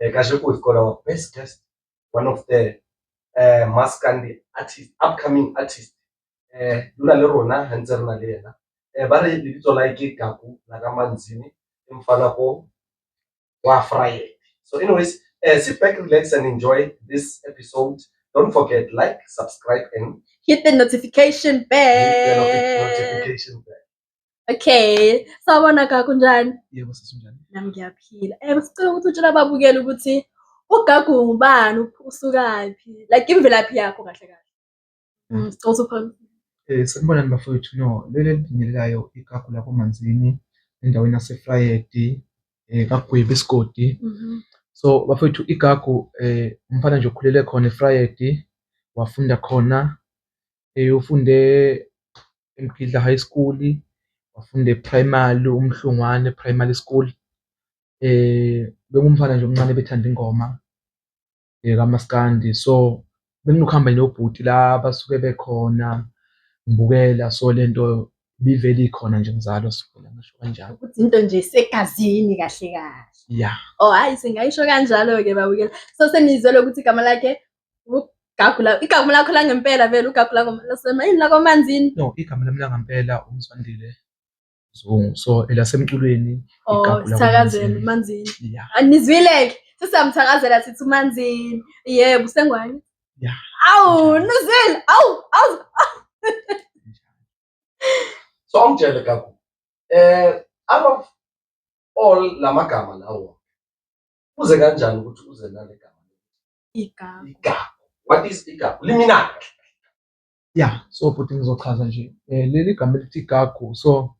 Uh, Kahle we've got our best guest, one of the uh, Maskandi artist, upcoming artist. Uh, luna le rona ha ntse re na le yena. Uh, ba re lebitso la ke Gaku la ka Manzini, emfana ko wa Friday. So anyways, uh, sit back, relax and enjoy this episode. Don't forget like, subscribe and hit the notification bell. Hit the notification bell. Okay, sawubona gagu unjani? Yebo sisi unjani? Nami ngiyaphila. Eh sicela ukuthi utshela ababukeli ukuthi ugagu ngubani, up- usukaphi, like imvelaphi yakho kahle kahle. Mm. Mm, sicela ukuthi uphakamisa. Eh sanibonani bafowethu. No, leli elidingekayo igagu lapho manzini endaweni yaseFlayedi eh kaGwebi isigodi. Mhm. So bafowethu igagu eh umfana nje okhulele khona eFrayedi wafunda khona ufunde eMgidla High School, wafunda e-Primary uMhlungwane Primary School. Bekungumfana nje omncane obethanda ingoma kamaskandi. So, benginokuhamba nje nobhuti la abasuke bekhona ngibukela. So, le nto ibivele ikhona nje ngizalwa so ngingasho kanjalo. Ukuthi into nje isegazini kahle kahle. Ya. Oh, hhayi singayisho kanjalo-ke babukela. So, senizwile ukuthi igama lakhe Gagula, igama lakho langempela vele ugagula ngomalasema yini lakomanzini no igama lami langempela umzwandile zungu so elasemculweni oh igagula sithakazeni manzini yeah anizwile-ke sisamthakazela sithi umanzini yebo usengwane yeah awu nizwile awu awu so angitshele gagu eh out of all lamagama lawo uze kanjani ukuthi uze nale gama Igagu. Igagu. What is igagu? Liminana. Yeah, so bhuti ngizochaza nje. Eh leli gama elithi igagu so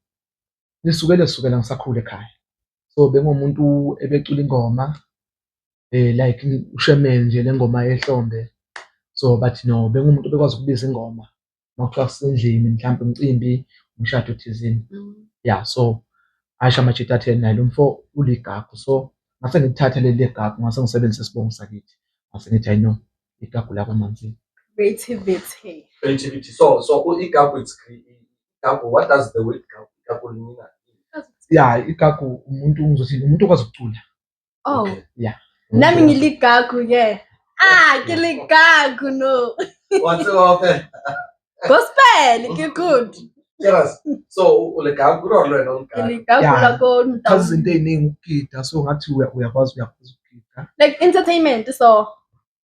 lisuke lesukela ngisakhule ekhaya. So bengomuntu ebecula ingoma eh like ushemeni nje lengoma ehlombe. So bathi no bengumuntu obekwazi ukubiza ingoma. nokuthiwa kusendlini mhlawumbe umcimbi umshado thizini mm. ya so asho amajita athe naye lo mfo uligagu so ngase ngithathe leli legagu ngase ngisebenzise isibongo sakithi ngase ngithi ayino igagu lakwamanzini creativity creativity so so igagu it's igagu what does the word igagu mean ya igagu umuntu ngizothi umuntu okwazi ukucula Oh. Okay. Yeah. Nami ngiligagu ke. Ah, ke ligagu no. What's up? Gospel ke good. Yes. So uligagu lo lwena uligagu. Ligagu la ko nta. Kazi izinto eziningi ukugida so ngathi uyakwazi uyakwazi ukugida. Like entertainment so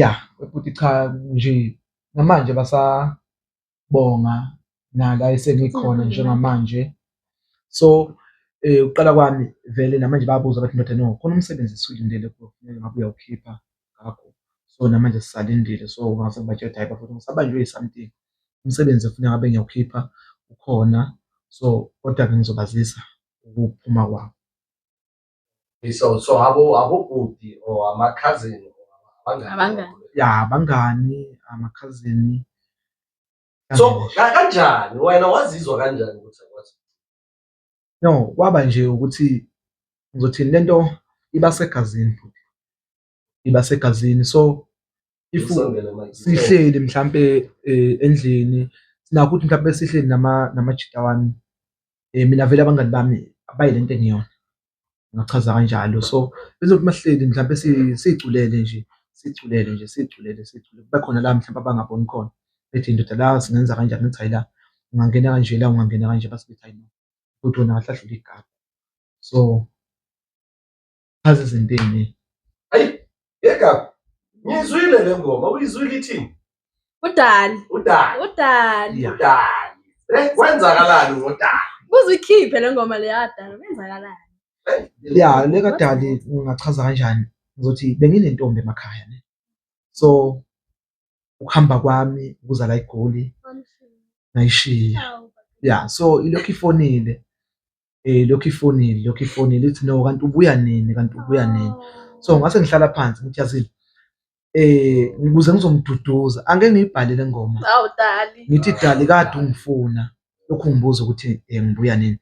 Ya futhi cha nje namanje basabonga nala esengikhona njengamanje. So ukuqala kwami vele namanje bayabuza bathi ndoda no khona umsebenzi esiwulindele kuwena ngabe uyawukhipha ngakho. So namanje sisalindile so mase ngibatshela ukuthi hhayi bafethu ngisabanjwe yi-something umsebenzi okufuneka ngabe ngiyawukhipha ukhona so kodwa-ke ngizobazisa ukuphuma kwawo. so so abo abobhuti or amakhazini abangani ya abangani amakhazini so kanjani wena wazizwa kanjani ukuthi akwazi no kwaba nje ukuthi ngizothini lento iba segazini futhi iba segazini so if sihleli mhlampe endlini sinakho ukuthi mhlampe sihleli namajita wami mina vele abangani bami abayi lento engiyona ngachaza kanjalo. So bezothi masihleli mhlampe siculele nje siculele nje siculele siculele kube khona la mhlampe abangaboni khona bethi ndoda la singenza kanjani ngithi hayi la ungangena kanje la ungangena kanje base bethi hayi no kodwa wena kahle kahle uligagu so. Azi zintini. Ayi, yeka. Ngizwile le ngoma, uyizwile ithini? Udali. Udali. Udali. Udali. Eh, kwenzakalani ngodali? Kuze ikhiphe le ngoma le yadala, kwenzakalani? Eh, ya, le kadali ungachaza kanjani? Ngizothi benginentombi emakhaya ne. So ukuhamba kwami ukuza la eGoli ngayishiya. Ya, so ilokhu ifonile. eh lokhu ifonile lokhu ifonile ithi no kanti ubuya nini kanti ubuya nini so ngase ngihlala phansi ngithi yazini eh ngikuze ngizomduduza angeke ngiyibhale le ngoma awu dali ngithi dali kade ungifuna lokhu ngibuza ukuthi eh, ngibuya nini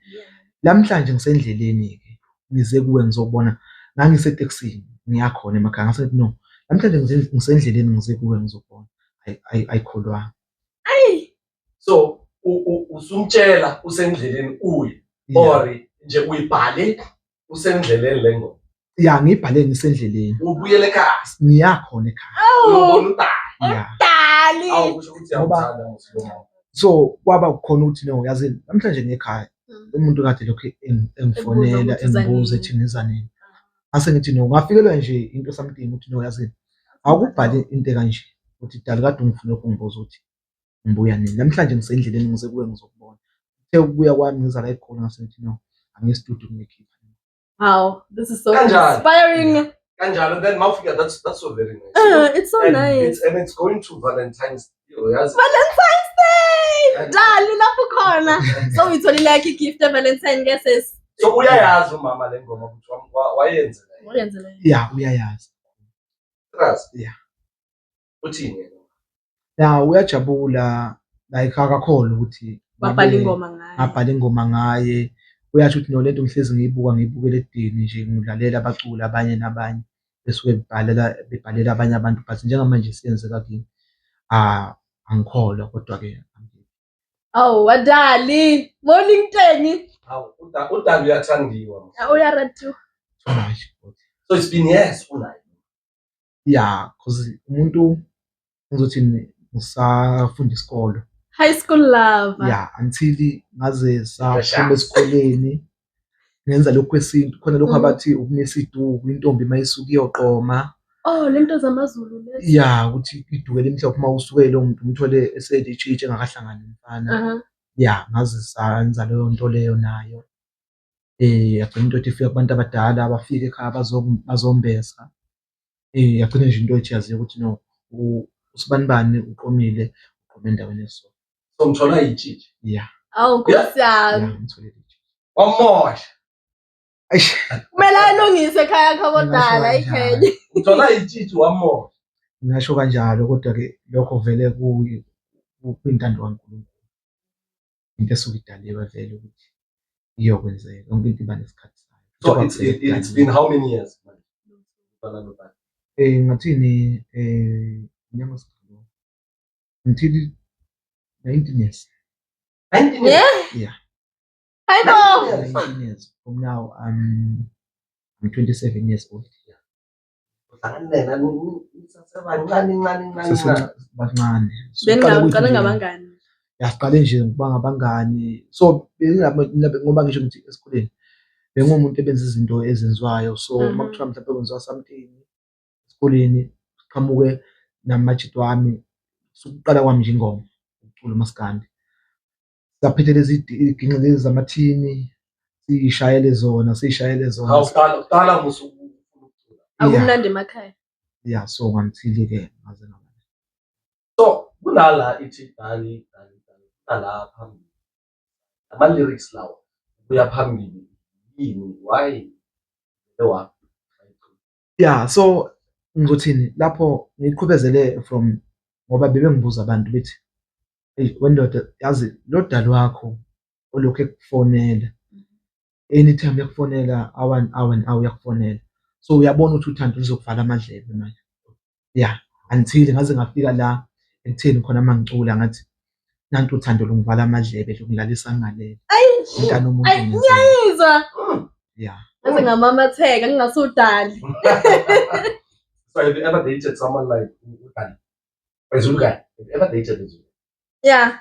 lamhlanje ngisendleleni ke ngize kuwe ngizobona ngangiseteksini ngiyakhona emakhaya ngase no namhlanje ngisendleleni ngize kuwe ngizobona ayikholwanga so usumtshela usendleleni uyi or nje uyibhale usendleleni le ngoma ya ngiyibhale ngisendleleni ubuyele ekhaya ngiyakhona ekhaya uyobona udali udali awusho ukuthi yawuthanda musiloma so kwaba kukhona ukuthi no yazi namhlanje ngekhaya mm. umuntu kade lokhu engifonela engibuza ethi ngiza nini ase ngithi no ngafikelwa nje into something ukuthi no yazi awukubhale into kanje ukuthi dali kade ungifuna lokhu ngibuza ukuthi ngibuya nini namhlanje ngisendleleni ngize kuwe ngizokubona uthe ukubuya kwami ngizala egoli ngasethi no angiye studio ngiyikhipha wow this is so Kanjalo. inspiring kanjalo then mawufika that's that's so very nice uh, it's so and nice it's, and it's going to valentine's day uyazi valentine's day dali lapho khona so uyitholile yakhe igift evalentine ke sis so uyayazi umama le ngoma ukuthi wam- wa- wayenzela yini. wayenzela ya uyayazi trust Yeah. uthini yena ya uyajabula like akakholwa ukuthi babhala ingoma ngaye abhala ingoma ngaye uyasho ukuthi nolento ngihlezi ngiyibuka ngiyibukela edini nje ngilalela abaculi abanye nabanye besuke bebhalela bebhalela abanye abantu but njengamanje siyenzeka kimi ah angikholwa kodwa ke awu wadali morning teni awu udali uyathandiwa uyaratu so it's been years unayo Yeah, cause umuntu ngizothi ngisafunda isikolo. High school lover. Yeah, until ngaze saphuma esikoleni ngenza lokhu kwesintu khona lokhu mm. abathi ukumisa iduku intombi uma isuke iyoqoma Oh lento zamaZulu lezi. Yeah, ukuthi iduke limhlophe uma usuke lo muntu umthole eselitshitshi engakahlangani umfana. Uh -huh. Yeah, ngaze sanza leyo nto leyo nayo. Yagcina into yokuthi ifika kubantu abadala abafike ekhaya bazombesa. Yagcina nje into yokuthi yaziwa ukuthi no usibanibani uqomile uqome endaweni eso. So ngithola itshitshi? Ya. Awu Nkosi yami. Ya ngithole itshitshi. Wamosha. Eish. Kumele alungise ekhaya yakho kodala ikhenya. Uthola itshitshi wamosha. Ngingasho kanjalo kodwa-ke lokho vele kwintando kaNkulunkulu. into esuke idaliwe vele ukuthi iyokwenzeka yonke into iba nesikhathi sayo so it's, it, it's been how many years manje eh ngathini eh nyama sikho until 19 years 19 years yeah I know. 19 years from now, I'm, I'm 27 years old. bancane bengiqale ngabangani yaqale nje ngokuba ngabangani so ngoba ngisho ngithi esikoleni bengumuntu ebenza izinto ezenziwayo so uma mhm. kuthiwa mhlawumbe kwenziwa something esikoleni qhamuke namajito wami sukuqala kwami nje ingoma ukucula umaskandi saphethe lezi ginqe lezi zamathini siyishayele zona siyishayele zona awuqala uqala musu akumnandi emakhaya yeah so ngamthili ke ngaze ngamane so kunala ithi dali dali dali kunala phambili ama lyrics lawo kuya phambili yini why lewa Yeah, so ngikuthini lapho ngiqhubezele from ngoba bebengibuza abantu bethi, "Eyi wendoda yazi lo dali wakho olokhu ekufonela, anytime ekufonela awu-one awu-one awu uyakufonela." So uyabona ukuthi uthando luzokuvala amadlebe manje. ya until ngaze ngafika la ekutheni khona uma ngicula ngathi nantu uthando lungivala amadlebe lungilalisa ngalele mntana umuntu ngiyayizwa ya ngaze ngamamatheka ngingasudali so have you ever dated someone like udali ezulukani have you ever dated ezulukani yeah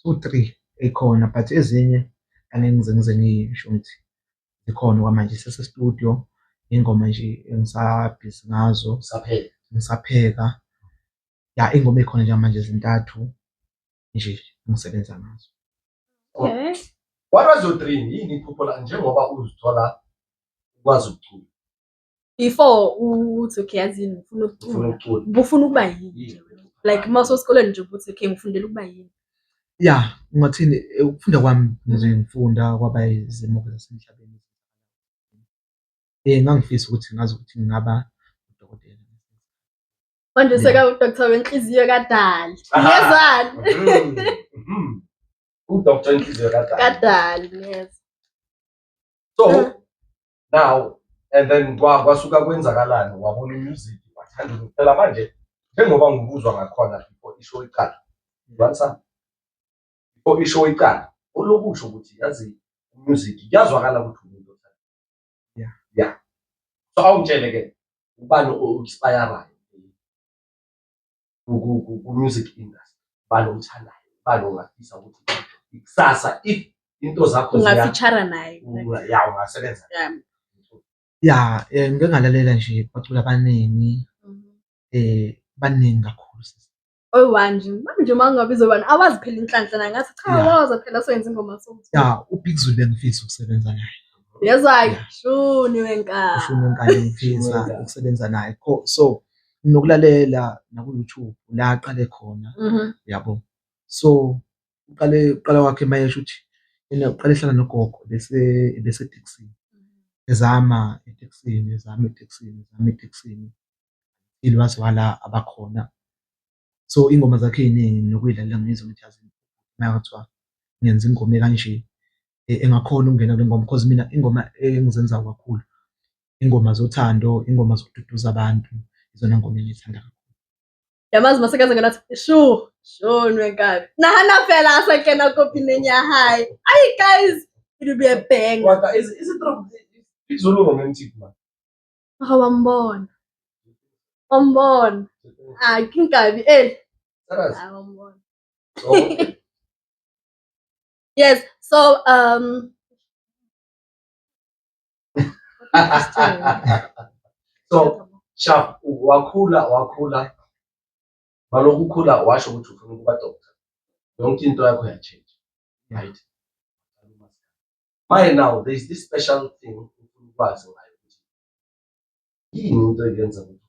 zu-three ey'khona but ezinye angeke ngize ngize ngisho ukuthi zikhona okwamanje sise-studio iy'ngoma nje engisabhizi ngazo ngisapheka ya iy'ngoma ey'khona njengamanje ezintathu nje engisebenza ngazo okay. What was your dream? Yini iphupho lakho njengoba uzithola ukwazi ukucula? before uthi okay yazini ngifuna ukucula ngifuna ukuba yini like uma usesikoleni nje ukuthi okay ngifundela ukuba yini ya ungathini eh, ukufunda kwami ngize ngifunda kwaba izimo zasemhlabeni um ngangifisa ukuthi ngazi ukuthi ngingaba udokotela manje seka udoktor wenhliziyo kadali ngezani mm-hmm. udoktor wenhliziyo kadali kadali yes so now and then kwa- kwasuka kwenzakalani wabona umusic wathanda ukuthi phela manje njengoba ngikuzwa ngakhona before isho iqala you understand? before isho iqala olokusho ukuthi yazi umusic kuyazwakala ukuthi umuntu othanda Yeah. yeah so awungitshele ke ubani o-inspirayo ku-music industry bani omthandayo bani ongafisa ukuthi ikusasa if into zakho ungafitshara naye ya ungasebenza ya eh, ngike ngalalela nje bacula abaningi um mhm. eh, baningi kakhulu oyi-one nje manje uma ngabe izoyi-one awazi phela inhlanhla naye ngathi cha waza phela soyenza ingoma so ya ubig zulu bengifisa ukusebenza naye yezwa-ke shuni wenkani ushuni wenkani ngifisa ukusebenza naye so nokulalela naku-YouTube la aqale khona Mhm. yabo so uqale uqala kwakhe mayesho ukuthi yena uqale ehlala nogogo bese beseteksini ezama eteksini ezama eteksini ezama eteksini ili waze wala abakhona so ingoma zakhe ey'ningi nokuyidlalela ngizwa ukuthi yazi maya kuthiwa ngenza ingoma ekanje e- engakhona ukungena kule ngoma because mina ingoma engizenzayo kakhulu ingoma zothando ingoma zokududuza abantu izona ngoma engiyithanda kakhulu yamazi masekaze ngena athi shu shu nwenkabi nahana phela asakena kopineni ya hayi ayi guys it will be a bang wata is is it true izulu romantic man ah wambona wambona ah kinkabi eh saras ah wambona yes so um so shaf wakhula wakhula balokhu ukhula washo ukuthi ufuna ukuba doctor yonke into yakho yatshintsha right manje now there is this special thing ufuna ukwazi ngayo ukuthi yini into eyenza ukuthi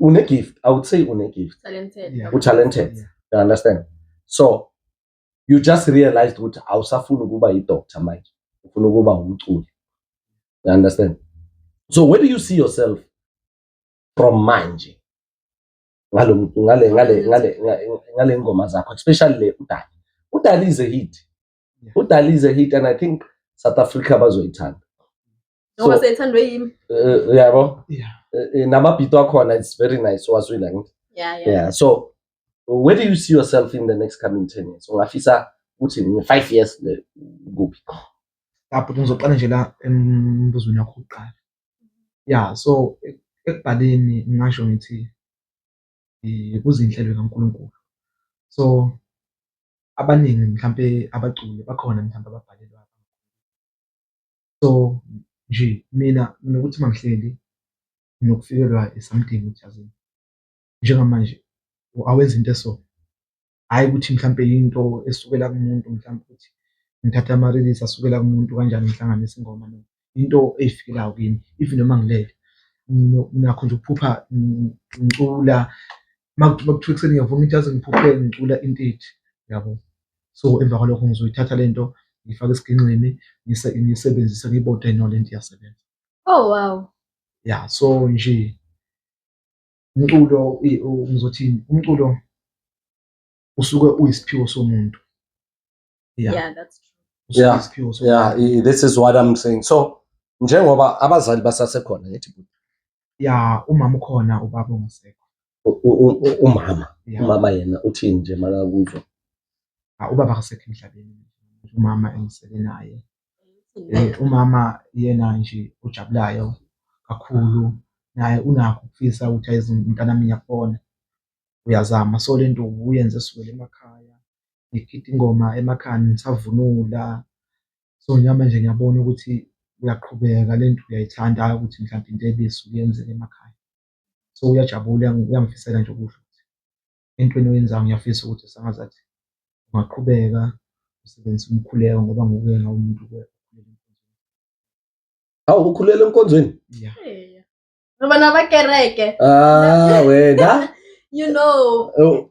une gift i would say une gift talented yeah. u talented yeah. you understand so you just realized ukuthi awusafuni ukuba yi doctor manje ufuna ukuba umculi you understand so where do you see yourself from manje ngalo ngale ngale ngale ngale ngoma zakho especially le udali udali is a hit udali is a hit and i think south africa bazoyithanda Ngoba So- seyithandwe yimi. Eh, uyabo Yeah. Eh, eh, namabhito akhona it's very nice owazwile angithi Yeah, yeah. yeah so where do you see yourself in the next coming 10 years ungafisa ukuthi in 5 years le- kuphi lapho ngizoqala nje la embuzweni wakho kuqala ya so ek- ekubhaleni ngingasho ngithi eh, kuzinhlelo kaNkulunkulu so abaningi mhlampe abaculi bakhona mhlampe ababhalelwa So nje mina nokuthi mangihleli nokufikelwa something ukuthi yazi njengamanje awenza into eso hhayi ukuthi mhlampe into esukela kumuntu mhlampe ukuthi ngithatha ama-release asukela kumuntu kanjani ngihlanganise ingoma no into eyifikelayo kimi even noma ngilele nakho nje ukuphupha ngicula makuthiwa ekuseni ngiyavuma ithi yazi ngiphuphe ngicula into ethi yabo. so emva kwalokho ngizoyithatha le nto ngiyifake esigingqini ngiyisebenzise ngiyibode no le nto iyasebenza oh wow ya so nje umculo ngizothini umculo usuke uyisiphiwo somuntu yeah, yeah that's true yeah, isiphiwo somuntu yeah this is what i'm saying so njengoba abazali basasekhona ngithi ya umama ukhona ubaba ongasekho umama umama yena uthini nje makakuzwa ah, ubaba akasekho emhlabeni umama engisele naye eh, umama yena nje ujabulayo kakhulu naye unakho ukufisa ukuthi ayizimntanami yakubona uyazama so lento uyenze sukele emakhaya ngikhipha ingoma emakhaya ngisavunula so njengamanje ngiyabona ukuthi uyaqhubeka lento uyayithanda ukuthi mhlawumbe into ebisi uyenzele emakhaya so uyajabula uyangifisela nje ukusho ukuthi entweni oyenzayo ngiyafisa ukuthi sangazathi ungaqhubeka usebenzise umkhuleko ngoba ngokuyena umuntu awu ukhulela enkonzweni yeah. ngoba nabakereke ah wena you know oh.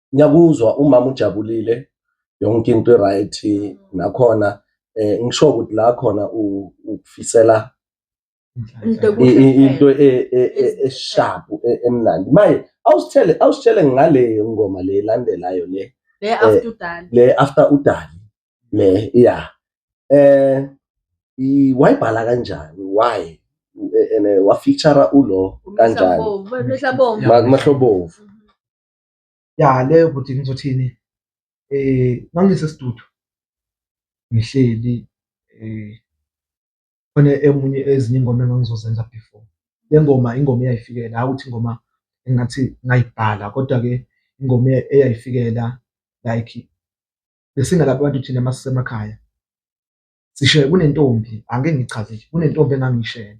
ngiyakuzwa umama ujabulile yonke into right nakhona eh ngisho ukuthi la khona ukufisela into e, e, e, eshapu emnandi maye awusithele awusithele ngale ngoma le landelayo le le eh, after udali le after udali le yeah eh wayibhala kanjani why ene wafeature ulo kanjani mahlobovu ya leyo bhuti ngizothini eh mangisesidudu ngihleli eh khona emunye ezinye ingoma engangizozenza before le ngoma ingoma eyayifikela hawu ukuthi ingoma engathi ngayibhala kodwa ke ingoma eyayifikela like besingalapha abantu thina masisemakhaya sisho kunentombi angeke ngichaze kunentombi engangiyishela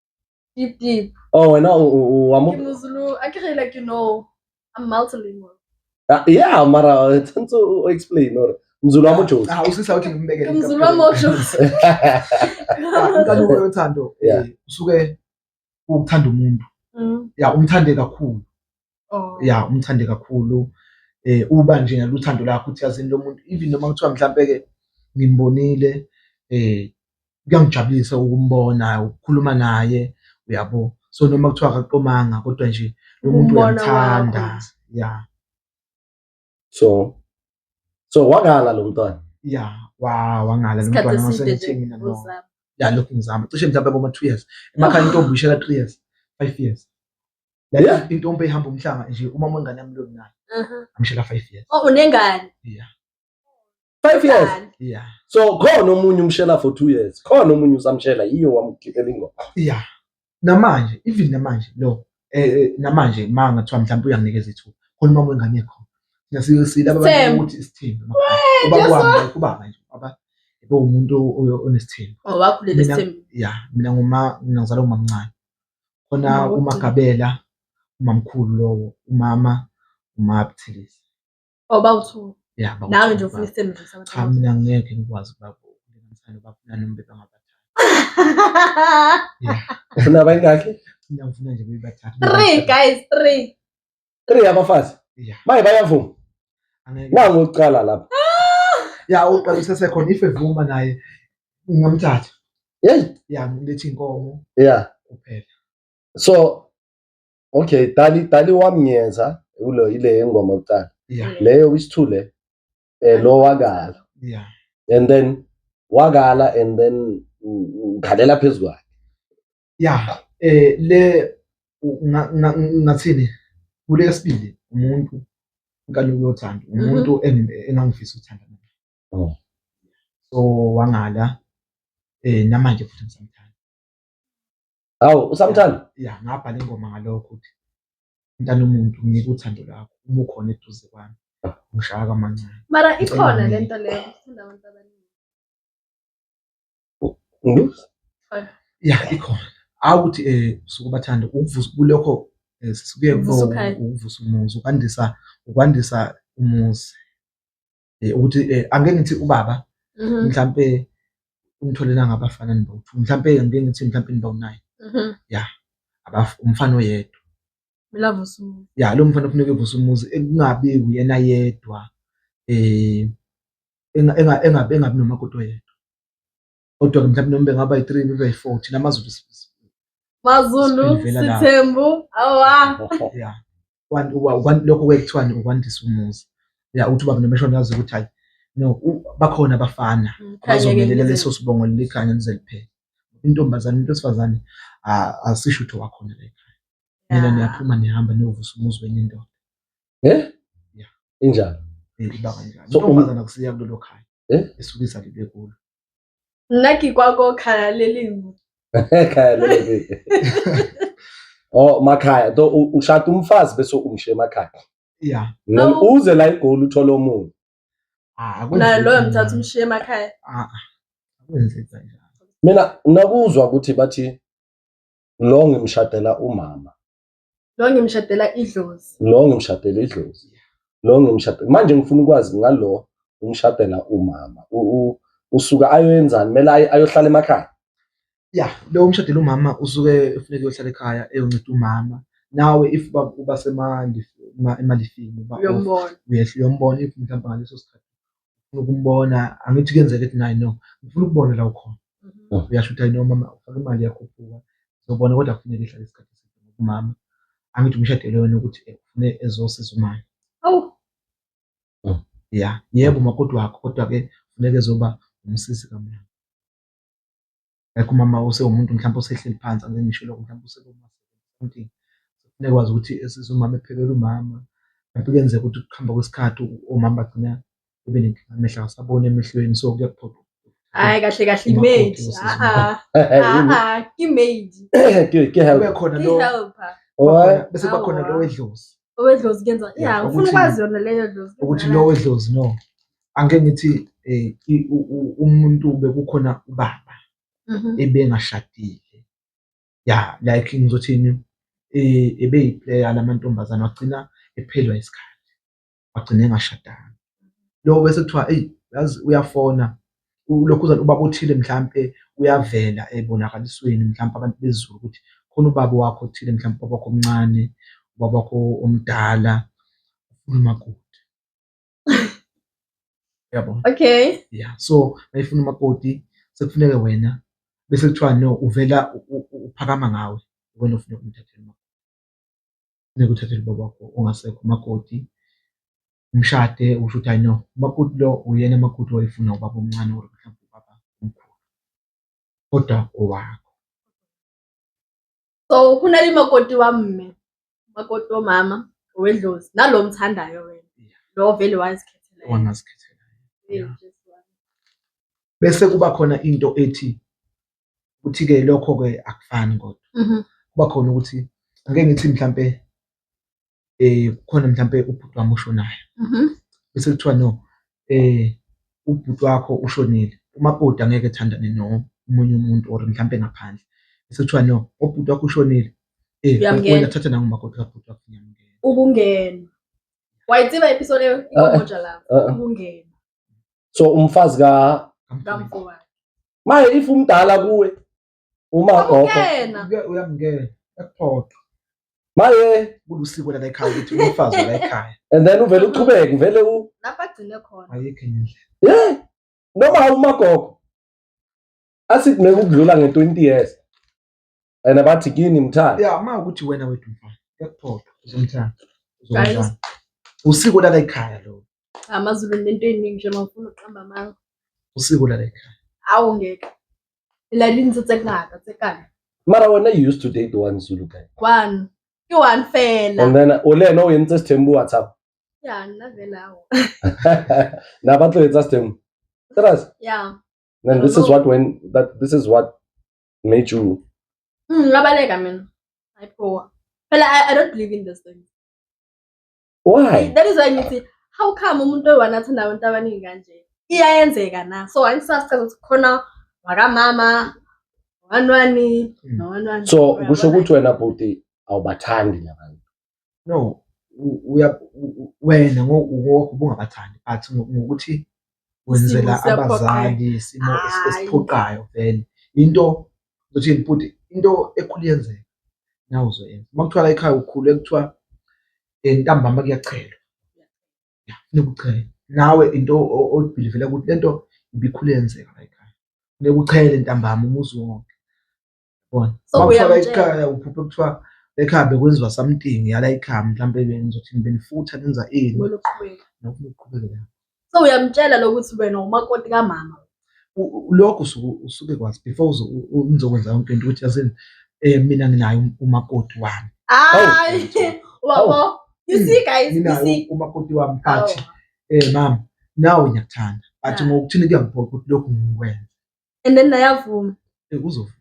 Deep, deep. Oh, wena u- u- u- wamu- Ke Muzulu. I can like you know. I'm multilingual. Ah, yeah mara uh, tshwanetse o o explain or mzulu wa mojosi Ah, usisa uthi ngimbeke Ke Muzulu wa mojosi. inkanuko yothando Yeah. eh, usuke ukuthanda umuntu Mm. ya umthande kakhulu oh. ya umthande kakhulu eh uba nje ngaluthando lakho uthi yazini lo muntu even noma kuthiwa mhlampe ke ngimbonile eh kuyangijabulisa ukumbona ukukhuluma naye uyabo so noma kuthiwa akaqomanga kodwa nje lo muntu uyamthanda ya so so wangala lo mntwana ya wa wangala lo mntwana ngosengathi mina no ya lokhu ngizama cishe mhlawumbe boma 2 years emakhaya intombi ishela 3 years 5 years la intombi ihamba umhlanga nje uma umngane yami lo nayo amshela 5 years oh unengane yeah 5 years yeah so khona omunye umshela for 2 years khona omunye usamshela yiyo wamkhipha ingoma yeah namanje even namanje lo eh, eh namanje manga kuthiwa mhlawumbe uyanginikeza ithuba khona uma wengane yakho nasiyosile abantu ukuthi isithembu ubabamba kubaba nje aba ebe umuntu onesithembu oh, wakhulele isithembu yeah mina nguma ngizala umamncane khona umagabela umamkhulu lowo umama umabthilisi Oh bawu-two. Yeah, bawu-two. Nawe nje ufuna isithembiso Cha sabathathu. mina ngeke ngikwazi ukuba ukulinganisana nobafuna noma bebangabathathu. Ufuna abayingakhi? Mina ngifuna nje bebathathu. Three guys, three. Three abafazi. Yeah. Maye bayavuma. Angeke. Nangu uqala lapha. Ya uqala usesekhona if evuma naye ngingamthatha. Hey, Ya ngilethi inkomo yeah. kuphela. So Okay, dali dali wamnyeza ulo ile ngoma kuqala. Yeah. Leyo isithule eh lo wakala. Yeah. And then wakala and then nghalela phezulu kwakhe. Yeah, eh le ngathini kule sibili umuntu nkani uyothanda mhm. umuntu engangifisa uthanda naye. Oh. So wangala eh namanje futhi ngisamthanda. Hawu usamthanda? Ya ngabhala ingoma ngalokho ukuthi mntana umuntu ngike uthando lakho uma ukhona eduze kwami ah. ngishaya kamancane. Mara ikhona le nto leyo ukuthanda abantu abaningi. Ya ikhona. Hawu ukuthi um eh, suke ubathande ukuvusa kulokho eh, sisuke ukuvusa umuzi ukwandisa ukwandisa umuzi. eh, ukuthi eh, angeke ngithi ubaba mhm. mhlampe umtholena ngabafana nibawu-two mhlampe ngike ngithi mhlampe nibawu-nine mhm. ya umfana oyedwa ya lo mfana kufuneka evusa umuzi kungabi uyena yedwa um engabi nomakoti oyedwa kodwa mhlawumbe noma bengaba yi-three bebe yi-four thina amazulu mazulu sithembu awa ya lokho kwekuthiwani ukwandisa umuzi ya uthi ubaba nomeshona yazi ukuthi hayi no bakhona abafana mm, abazomelela leso sibongo lelikhanya lize liphele intombazane into esifazane asisho ukuthi wakhona la ekhaya mina niyaphuma nihamba niyovusa umuzi wenye indoda eh injalo eh, iba kanjalo intombazane akusiya kulelo khaya eh? esuke izalelwe kulo Nna ke kwa ko khaya le lengwe. Khaya le lengwe. Oh makhaya to ushada umfazi bese umshiye emakhaya. Yeah. Then uze la igoli uthole omunye. Ah, na loyo mthatha umshiye emakhaya. Ah. ah. Akwenzeki kanjalo. Mina nakuzwa ukuthi bathi lo ngimshadela umama. Lo ngimshadela idlozi. Lo ngimshadela idlozi. Lo ngimshadela. Manje ngifuna ukwazi ngalo umshadela umama. Usuka ayoyenzani? Kumele ayohlala emakhaya. Ya, lo umshadela umama usuke efuneka uyohlala ekhaya eyonceda umama. Nawe if uba semali emalifini uba uyehla uyombona if mhlawumbe ngaleso sikhathi ngifuna ukumbona angithi kuyenzeka ukuthi naye no ngifuna ukubona la ukhona mhm. uyasho ukuthi ayino mama ufake imali yakhuphuka zobona kodwa kufuneka ihlale isikhathi eside ngokumama angithi umshadelo wena ukuthi eh, ufune ezosiza umama awu mm. ya yebo makoti wakho kodwa-ke funeka ezoba umsisi kamama like umama osewumuntu mhlawumbe osehleli phansi angeke ngisho lokho mhlawumbe usekuma something kufuneka kwazi ukuthi esise umama ephekela umama mhlawumbe kuyenzeka ukuthi ukuhamba kwesikhathi omama bagcina ube nenkinga amehla awasaboni emehlweni so kuyakuphoqa hayi kahle kahle imaid imaid kube khona lo bese kuba khona lo wedlozi owedlozi kuyenza ya ufuna ukwazi yona leyo dlozi ukuthi lo wedlozi no angike ngithi um umuntu bekukhona ubaba mhm. ebengashadile ya like ngizothini um ebeyiplayer la mantombazane wagcina ephelelwa isikhathi wagcina engashadanga lo bese kuthiwa eyi yazi uyafona ulokhuzana ubaba othile mhlampe uyavela ebonakalisweni mhlampe abantu bezulu ukuthi khona ubaba wakho othile mhlampe ubaba wakho omncane ubaba wakho omdala ufuna umakoti yabo okay yeah so mayifuna umakoti sekufuneke wena bese kuthiwa no uvela uphakama ngawe wena ufuneka umthathele umakoti funeka uthathele ubaba wakho ongasekho umakoti umshade usho ukuthi no umakoti lo uyena umakoti wayefuna ubaba omncane or mhlawumbe ubaba omkhulu kodwa owakho So go na le makoti wa mme, makoti wa mama, wedlozi, nalo omthandayo wena. Lo vele wazikhethela. Wangazikhethela. Yeah. Bese kuba khona into ethi ukuthi ke lokho ke akufani kodwa. Mhm. Kuba khona ukuthi ake ngithi mhlambe kukhona mhlampe ubhuti wami oshonayo bese kuthiwa no ubhuti wakho ushonile, umakoti angeke ethandane nomunye umuntu or mhlampe ngaphandle bese kuthiwa no ubhuti wakho ushonile wena thatha nangu umakoti kabhuti wakho ngiyamngena. Ukungena. Wayitsiba episode yomoja lapho ukungena. So umfazi ka kamfowabo. Maye if umdala kuwe Uma gogo Akukena. uye- uyamngena ekuphoqa maye kulusiko lala ekhaya ukuthi umfazi wala ekhaya and then uvele uqhubeke uvele u Lapho agcine khona. ayikho enye indlela yeah noma awumagogo athi kumele ukudlula nge 20 years and abathi kini mthanda ya uma ukuthi wena wethu mfana ekuphoqa uzomthanda uzomthanda usiko lala ekhaya lo AmaZulu nento eningi nje mawufuna uqamba amanga. usiko lala ekhaya. Awu ngeke. la dintse tse ngata tse kana mara wena you used to date one zulu guy one ke one fela and then o le ena o entse sithembu whatsapp ya nna vela o na ba tlo etsa sithembu trust ya then this is what when that this is what made you mm labaleka mina i poor fela I, i don't believe in this thing why that is why ngithi how come umuntu oyi-one athanda abantu abaningi kanje iyayenzeka na so angisasazi ukuthi khona wakamama wanwani hmm. nowanwani so kusho ukuthi wena bhuti awubathandi nabantu no wena ngokuthi ubungabathandi but ngokuthi wenzela Isimo siyaphoqayo. abazali isimo es- Hhayi. esiphoqayo vele into ukuthi bhuti into ekhulu yenzeka nawe uzoyenza uma kuthiwa la ekhaya ukhule kuthiwa eh, ntambama kuyachelwa Ya, funeka uchele nawe into o- oyibhilivela ukuthi lento ibikhulu yenzeka la ekhaya funeka uchele ntambama umuzi wonke yabona So, uma kuthiwa uyamtshela. layikhaya uphuphe kuthiwa ekhambe kwenziwa something yalayikhaya mhlawumbe benizothi benifutha nenza ini Kumele uqhubeke. nokuma uqhubekela So uyamtshela lokuthi wena umakoti kamama. U- u- lokho usuke usuke kwazi before uzo- u- u- nizokwenza yonke into ukuthi yazini um mina nginayo um- umakoti wami Hayi. uyamtshela. Wabo. You see guys, you nginayo see. umakoti wami but Awu. um mama nawe ngiyakuthanda but Ah. ngokuthini kuyangiphoqa ukuthi lokhu ngikwenze and then nayavuma Eh, kuzovuma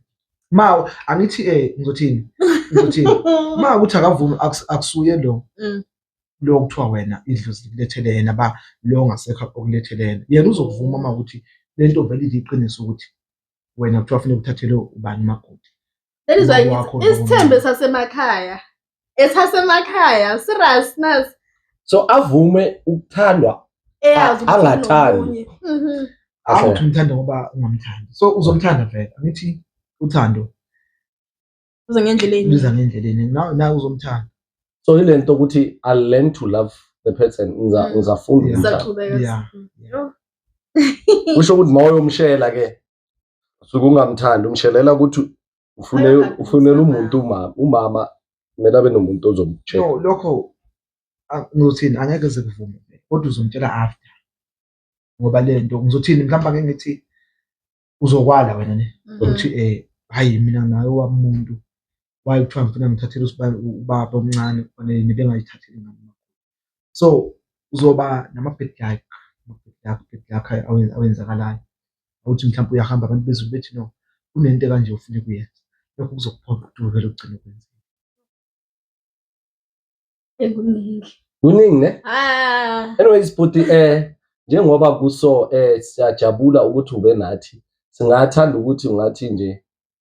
ma angithi eh ngizothini ngizothini ma ukuthi akavumi akus- akusuye lo Mm. lo kuthiwa wena idlozi likulethele yena ba lo ongasekho okulethele yena yena uzokuvuma uma ukuthi le nto vele iliqiniso ukuthi wena kuthiwa funeka uthathele ubani umakoti That is why Ubaba wakho ngithi, isithembe sasemakhaya esasemakhaya serious nas so avume ukuthandwa eyazi A- ukuthi angathandi. unomunye. Mhm. Hawu Okay. ukuthi umthanda ngoba ungamthandi so uzomthanda vele angithi uthando Uze ngendlela enye. luza ngendleleni nawe nawe uzomthanda so ile nto ukuthi i learn to love the person ngiza- Mm. ngizafunda Yeah. ukumthanda. Saqhubeka. Yeah. Yo. kusho ukuthi mawuyomshela ke suke ungamthandi umshelela ukuthi ufune ufunela umuntu umama umama kumele abe nomuntu ozomtshela no lokho ngothini angeke zikuvume kodwa uzomtshela after ngoba lento ngizothini mhlawumbe ngeke ngithi uzokwala wena ne mm. ukuthi eh hayi mina naye wamuntu why kuthiwa ngifuna ngithathele usibani ubaba omncane kufanele nebengayithatheli ngami so uzoba nama-bad luck ama-bad luck bad luck awenzakalayo awuthi mhlawumbe uyahamba abantu bezulu bethi no kunento kanje ofuna kuyenza lokho kuzokuphoqa ukuthi uvele ugcine ukwenzile kuningi ne ah. anyways bhuti eh njengoba kuso eh siyajabula ukuthi ube nathi singathanda ukuthi ungathi nje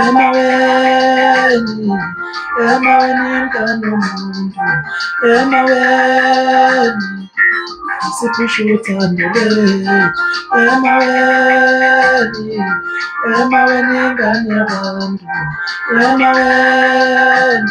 Emaweni, emaweni mkani umuntu, emaweni siphusha uthando lwethu, emaweni, emaweni ingane yabantu, emaweni.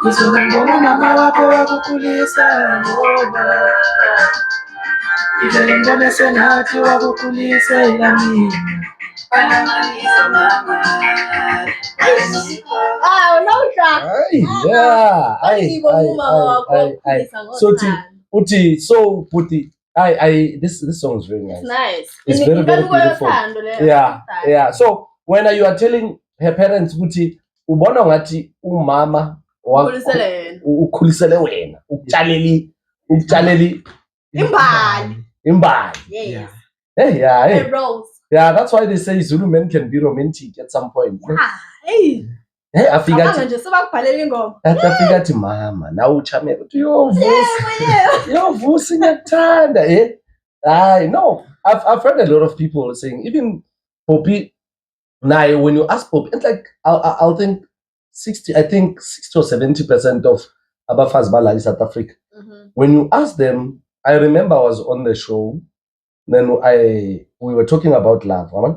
Ngizoba ngomama wakho wakukhulisa ngoba ngivele ngibone sengathi wakukhulisela mina sothi uthi so bhuti I, I, this, this song is very nice. It's nice. It's very, very beautiful. Yeah, yeah. So when you are telling her parents ukuthi ubona ngathi umama ukhulisele wena ukutshaleli ukutshaleli imbali imbali yes hey yeah hey. yeah that's why they say Zulu men can be romantic at some point yeah hey Hey afika athi nje sebakubhalela ingoma. Athi afika athi mama nawe uchame ukuthi yovusa. Yovusa ngiyakuthanda eh. Hayi no I've I've heard a lot of people saying even Poppy naye when you ask Poppy it's like I'll, I'll think 60 I think 60 or 70% of abafazi balala South Africa. Mm -hmm. When you ask them I remember I was on the show then I we were talking about love. Right?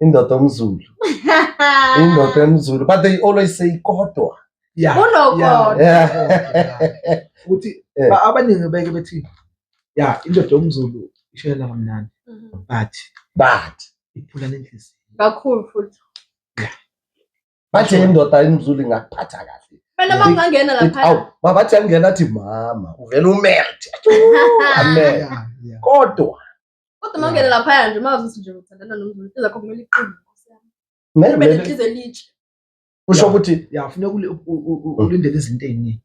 indoda omzulu indoda emzulu but they always say kodwa Yeah, Kunokodwa. yeah, yeah. ukuthi Eh. ba- abaningi beke bethi ya indoda yomzulu ishayela kamnandi Mhm. but but iphula nenhliziyo kakhulu futhi bathe indoda emzulu ingakuphatha kahle phela uma ungangena Ithi, lapha awu mabathi angena athi mama uvele umelt amen Yeah, yeah. kodwa Kodwa uma ungena laphaya nje uma uzothi nje uthandana nomuntu into zakho kumele iqine. Nkosi yami. Maybe- Ube maybe- nenhliziyo elitshe. kusho ukuthi ya funeka uli- u- u- u- ulindele izinto ey'ningi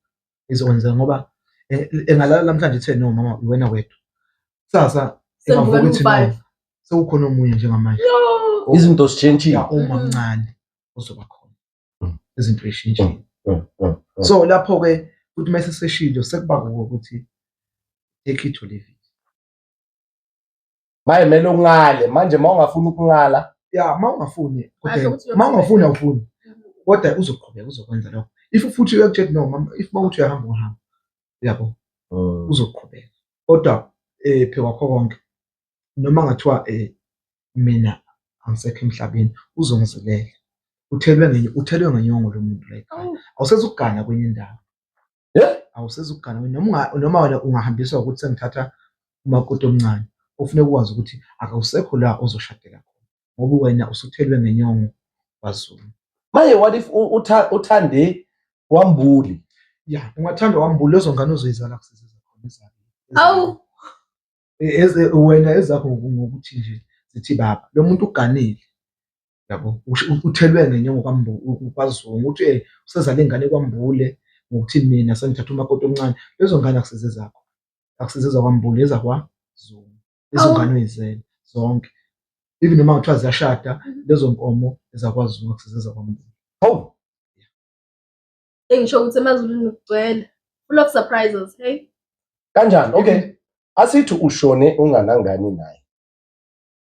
ezokwenzeka ngoba eh, engalala namhlanje ethe no mama iwena wedwa kusasa Sengivuka engavuka ethi no ngiwu-five. sekukhona omunye njengamanje Yo. izinto zitshentshile ya uma Mhm. mncane uzoba khona Mm. izinto ey'shintshile Mm, mm, mm. so lapho-ke ukuthi uma seseshilo sekuba kuko ukuthi take it or leave it maye mele ungale manje uma ungafuni ukungala ya uma ungafuni uma ungafuni awufuni kodwa uzoqhubeka uzokwenza lokho if futhi uyakutshela no mama if uma uthi uyahamba uhamba yabo mm. uzoqhubeka kodwa eh phe kwakho konke noma ngathiwa eh mina angisekho emhlabeni uzongizilela uthelwe ngenye uthelwe ngenyongo lomuntu like awusezugana kwenye indawo Eh, awusizi ukugana wena noma unga- noma wena ungahambiswa ukuthi sengithatha umakoti omncane kufuneka ukwazi ukuthi akawusekho la ozoshadela khona ngoba wena usuthelwe ngenyongo wazulu manje what if u- utha- uthande wambuli ya ungathanda wambula lezo ngane uzoyizala kusese zakhona ezakho. Awu. E- eze- wena ezakho ngoku- ngokuthi nje zithi baba lo muntu uganile yabo uthelwe ngenye ngokwazungu ukuthi eh, usezale ingane kwambule ngokuthi mina sengithatha umakoti omncane lezo ngane akusize zakho akusize zakwambule ezakwazungu lezo ngane oyizele zonke even noma kuthiwa ziyashada lezo nkomo ezakwazungu akusize zakwambule hawu engisho ukuthi emazulwini kugcwele full of surprises hey kanjani okay asithi ushone unganangani naye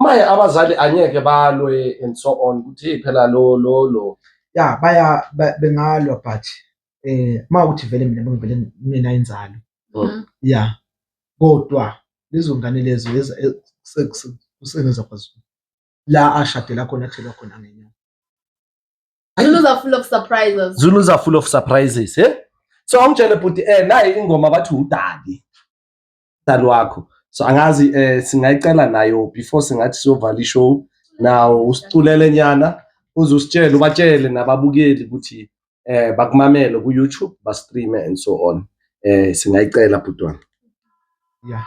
maye abazali angeke balwe and so on ukuthi hey phela lo lo lo ya baya bengalwa but eh uma ukuthi vele mina ngivele mina inzalo mm-hmm. ya kodwa lezo ngane lezo kusengenza kwaZulu la ashadela khona kuthelwa khona ngenyanga Zulu's are full of surprises. Zulu's are full of surprises, eh? So awungitshele bhuti eh nayi ingoma bathi udali. umdlali wakho so angazi eh, singayicela nayo before singathi siyovala ishow nawo usiculele nyana uze usitshele ubatshele nababukeli ukuthi eh bakumamele ku YouTube ba stream and so on eh singayicela bhutwana yeah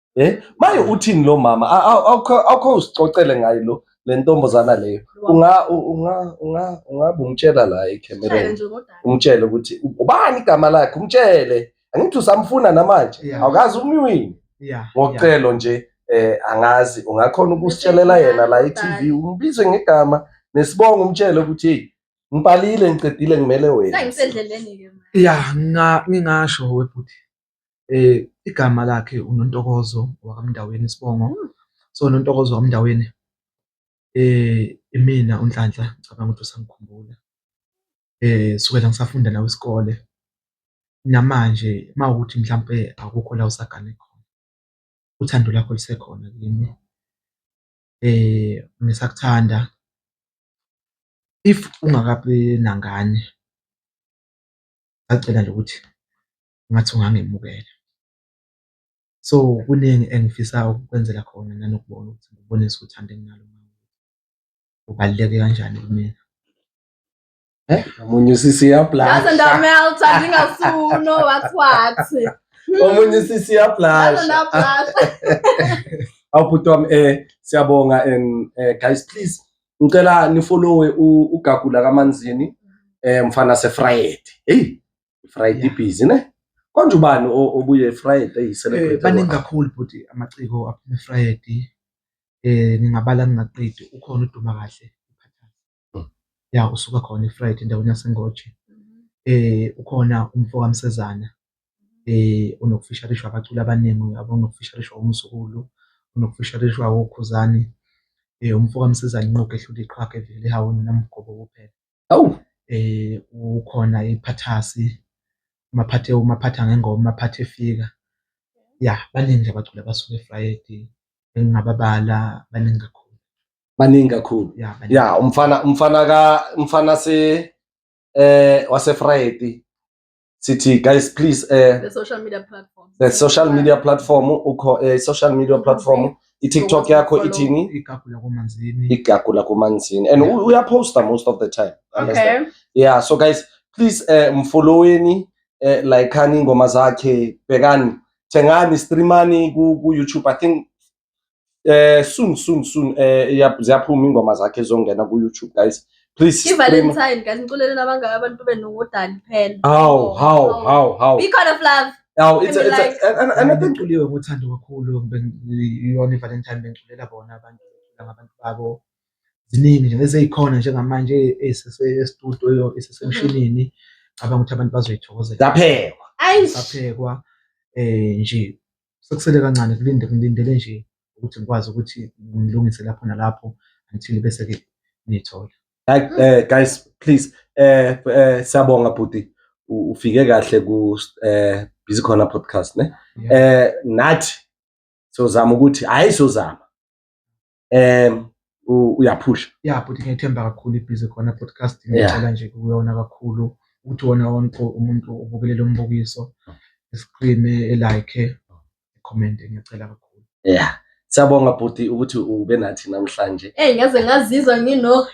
Eh maye uthini lo mama awukho usicocele ngaye lo le ntombazana leyo unga unga unga ungabe umtshela la ecamereni umtshele ukuthi ubani igama lakhe umtshele angithi usamfuna namanje awukazi umyini ngocelo nje eh angazi ungakhona ukusitshelela yena la eTV umbize ngegama nesibongo umtshele ukuthi hey ngibhalile ngiqedile ngimele wena sengisendleleni ke manje ya ngingasho webhuti Igama lakhe uNontokozo wakwaMndaweni isibongo. So, uNontokozo wakwaMndaweni imina uNhlanhla ngicabanga ukuthi usangikhumbula kusukela ngisafunda nawe isikole namanje uma kuwukuthi mhlampe akukho la osagane khona uthando lwakho lusekhona kimi ngisakuthanda. If ungakabi nangane ngisacela nje ukuthi ngathi ungangemukela. So kuningi engifisa ukukwenzela khona nanokubona ukuthi ngikubonise uthando enginalo ubaluleke kanjani kumina. Eh, omunye usisi uyablasha. Ngaze ndameltha ngingasuno what what. Omunye usisi uyablasha. Awubhuti wami eh siyabonga and eh, guys please ngicela nifollowe ugagula kamanzini eh mfana sefried. Hey Friday yeah. busy ne konje ubani obuye Friday eh, celebrate baningi kakhulu bhuti amaciko aphuma Friday eh ngingabala ngingaqedi ukhona uduma kahle hmm. ya usuka khona iFriday endaweni yaseNgoje mm-hmm. eh ukhona umfo kaMsezana eh unokufisharishwa abaculi abaningi uyabo unokufisharishwa umsukulu unokufisharishwa okhuzani eh umfo kaMsezana inqoke ehlule iqhaka evele hawuni namgobo kuphela Awu ukhona iPhathasi, uMaphathe uMaphatha ngengoma, uMaphathe efika. Ya, baningi nje abaculi abasuke efrayidi engingababala baningi kakhulu. Baningi kakhulu. Ya, baningi. Ya, umfana umfana ka umfana se wasefrayidi sithi guys please eh the social media platform the social media platform ukho eh social media platform i-TikTok yakho ithini igagu lakumanzini igagu lakumanzini and yeah. uyaposta most of the time okay yeah so guys please eh mfolloweni eh likeani ingoma zakhe bhekani thengani streamani ku, ku YouTube i think eh soon soon soon eh iya- ziyaphuma ingoma zakhe zongena ku YouTube guys please stream ivalentine guys niculeleni abangaka abantu benu ngodali phela how how how how be kind of love how it's a, Let me it's a, and, and, and I think bengiculiwe uthando kakhulu ben- iyona ivalentine bengiculela bona abantu bengiculela ngabantu babo ziningi nje eseyikhona njengamanje esese- estudio esesemshinini cabanga ukuthi abantu bazoyithokozela zaphekwa ayi saphekwa eh nje sekusele kancane kulinde ngilindele nje ukuthi ngikwazi ukuthi ngilungise lapho nalapho until bese-ke niyithola eh guys please eh, eh siyabonga bhuti ufike kahle ku eh busy corner podcast ne eh nathi sozama ukuthi hayi sozama um uyaphusha ya bhuti ngiyethemba kakhulu ibhizi khona podcast ngicela nje kuyona kakhulu ukuthi wona wonke umuntu ubukele lo mbukiso esiqine elike comment ngiyacela kakhulu ya Siyabonga bhuti ukuthi ube nathi namhlanje. Eh ngaze ngazizwa ngino.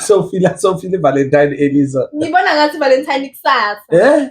So feel so feel Valentine Eliza. Ngibona ngathi Valentine kusasa. Eh?